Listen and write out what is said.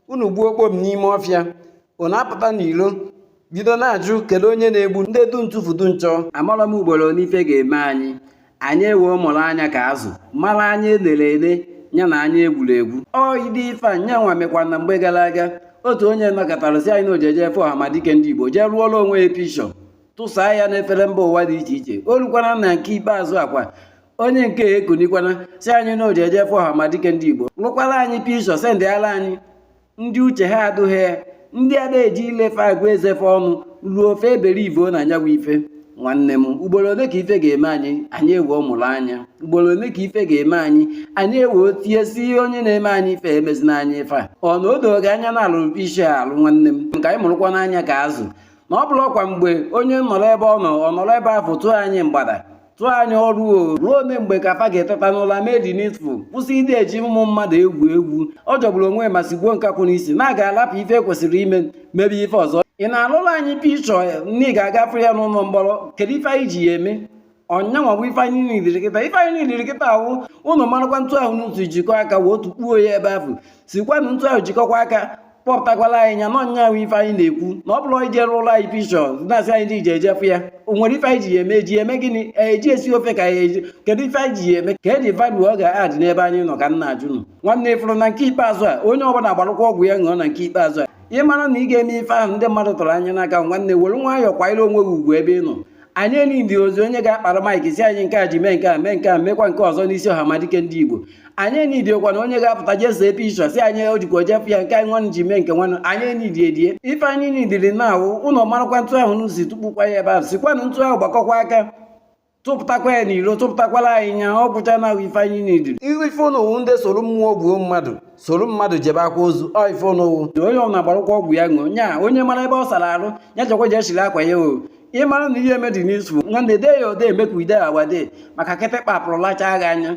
unu gbuo okpom n'ime ọfịa unu apụta n'ilo bido na-ajụ kedu onye na-egbu ndị du ntụfu du nchọ amarọ m ugboro one ife ga-eme anyị anyị ewee mụrụ anya ka azụ mara anya elere ele ya na anya egwuru egwu ụdị ife a nya nwa mekwa na mgbe gara aga otu onye nọkatara si anyị na o jeje fụ ọhamadike ndị igbo jee rụọla onwe ya picture tụsaa ya n'efere mba ụwa dị iche iche o rukwana na nke ikpeazụ a kwa onye nke ekunikwana si anyị na o jeje fụ ọhamadike ndị igbo lụkwara anyị picture sendịara anyị ndị uche ha adụghị ndị ada eji ile fa agụ eze fa ọnụ ruo fa ebelieve na ọ nya wụ ife nwanne m ugboro ole ka ife ga-eme anyị anyị ewee mụrụ anya ugboro ole ka ife ga-eme anyị anyị ewee tie si onye na-eme anyị ife emezina anyị ife a ọ na o dogo anya na a lụrụ picture alụ nwanne m ka anyị mụrụkwanụ anya ka azụ na ọ bụrọkwa mgbe onye nọrọ ebe ọ nọ ọ nọrọ ebe afụ tụọ anyị mgbada tụọ anyị ọrụ o ruo ole mgbe ka fa ga-eteta n'ụla mee the needful kwụsị ịdị eji ụmụ mmadụ egwu egwu ọ jọgburu onwe ma sigbuo nkakwụ n'isi na a ga-alapụ ife kwesịrị ime mebe ife ọzọ ị na-alụrụ anyị picture na ị ga-aga fụ ya n'ụlọ mkpọrọ kedu ife anyị ji ya eme ọ nya nwa bụ ife anyị nidiri kịta ife anyị nidiri kịta a wụ ụnụ marakwa etu ahụ unu si jikọ aka wee tukpuo ya ebe ahụ sikwanụ etu ahụ jikọkwa aka kpọpụtakwala anyị nya na ọ nya wụ ife anyị na-ekwu na ọ bụrọ ije rụọrọ anyị picture na-asị anyị i jeje fụ ya o nwere ife anyị ji ya eme eji eme gịnị eji esi ofe ka ya eji kedu ife anyị ji ya eme kedụzị value ọ ga-adị n'ebe anyị nọ ka m na-ajụ ụnụ nwanne ị fụrụ na nke ikpeazụ a onye ọbụla gbarụkwa ọgwụ ya ṅụọ na nke ikpeazụ a ị mara na ị ga-eme ife ahụ ndị mmadụ tụrụ anya n'aka nwanne were nwayọọ kwanyere onwe gị ugwu ebe ị nọ anyị enidirọzi onye ga-akpara maịkị si anyị nke a ji mee nke a mee nke a mekwa nke ọzọ n'isi ọhamadike ndị igbo anyị enidirọkwa na onye ga-apụta jee see picture si anyị o jekwa eje fụ ya nke anyị nwanụ ji mee nke nwanụ anyị enidirọ ya ife anyị nidiri na-awụ ụnụ marakwa etu ahụ unu si tukpukwa ya ebe ahụ sikwanụ etu ahụ gbakọkwa aka tụpụtakwa ya n'iro tụpụtakwala anyị nya ọ bụcha na ahụ ife anyị nidiri ihu ife ụnụ wụ ndị soro mmụọ gbuo mmadụ soro mmadụ jebe akwa ozu ọ ife ụnụ wụ onye ọbụla gbarụkwa ọgwụ ya ṅụọ nya onye mara ebe ọ sara arụ ya jekwa jee chiri akwa ya o ị mara na ị ya-eme the needful nwanne dee ya ode emekwa ide awade maka kịtịkpa pụrụ lachaa gị anya